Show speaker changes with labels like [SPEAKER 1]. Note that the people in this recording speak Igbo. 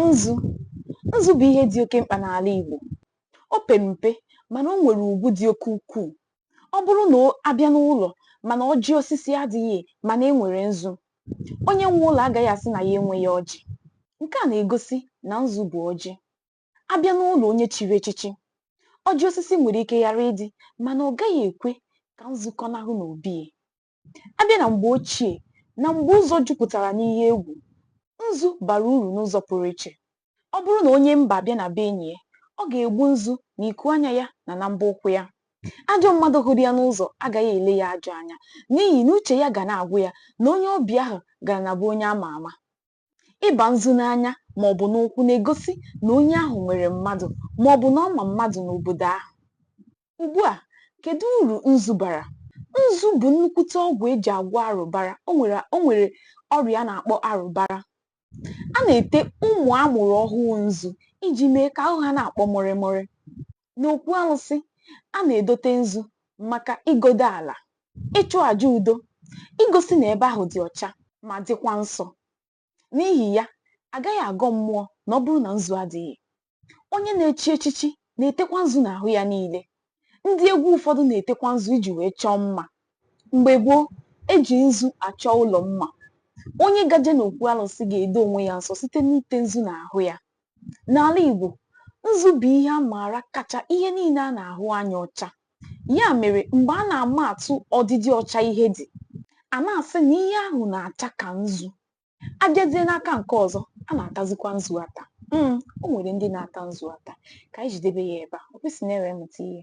[SPEAKER 1] Nzu Nzu bụ ihe dị oke mkpa n'ala Igbo. O pere mpe mana o nwere ugwu dị oke ukwuu. Ọ bụrụ na a bịa n'ụlọ mana ọjị osisi adịghị mana e nwere nzu, onye nwe ụlọ agaghị asị na ya enweghị ọjị. Nke a na-egosi na nzu bụ ọjị. A bịa n'ụlọ onye chiri echichi, ọjị osisi nwere ike ghara ịdị mana ọ gaghị ekwe ka nzu kọnahụ n'obi ya. A bịa na mgbe ochie na mgbe ụzọ jupụtara n'ihe egwu, nzu bara uru n'ụzọ pụrụ iche. Ọ bụrụ na onye mba abịa na be enyi ya, ọ ga-egbu nzu na iku anya ya na na mbọ ụkwụ ya. Ajọ mmadụ hụrụ ya n'ụzọ agaghị ele ya ajọ anya n'ihi na uche ya ga na-agwa ya na onye ọbịa ahụ gara na be onye a ma ama. Ịba nzu n'anya ma ọ bụ n'ụkwụ na-egosi na onye ahụ nwere mmadụ ma ọ bụ na ọ ma mmadụ n'obodo ahụ. Ugbu a, kedu uru nzu bara? Nzu bụ nnukwute ọgwụ e ji agwọ arụbara. O nwere o nwere ọrịa a na-akpọ arụbara. A na-ete ụmụ a mụrụ ọhụụ nzu iji mee ka ahụ ha na-akwọ mụrịmụrị. N'okwu alụsị, a na-edote nzu maka ịgọdo ala, ịchụ aja udo, igosi na ebe ahụ dị ọcha ma dịkwa nsọ. N'ihi ya, a gaghị agọ mmụọ na ọ bụrụ na nzu adịghị. Onye na-echi echichi na-etekwa nzu n'ahụ ya niile. Ndị egwu ụfọdụ na-etekwa nzu iji wee chọọ mma. Mgbe gboo, e ji nzu achọ ụlọ mma. Onye gaje n'okwu alụsị ga-edo onwe ya nsọ site n'ite nzu n'ahụ ya. N'ala Igbo, nzu bụ ihe a maara kacha ihe niile a na-ahụ anya ọcha. Ya mere, mgbe a na-ama atụ ọdịdị ọcha ihe dị, a na-asị na ihe ahụ na-acha ka nzu. A bịazie n'aka nke ọzọ, a na-atazikwa nzu ata. Mm, o nwere ndị na-ata nzu ata. Ka anyị jidebe ya ebe a. Ọ kwesị na e were mụta ihe.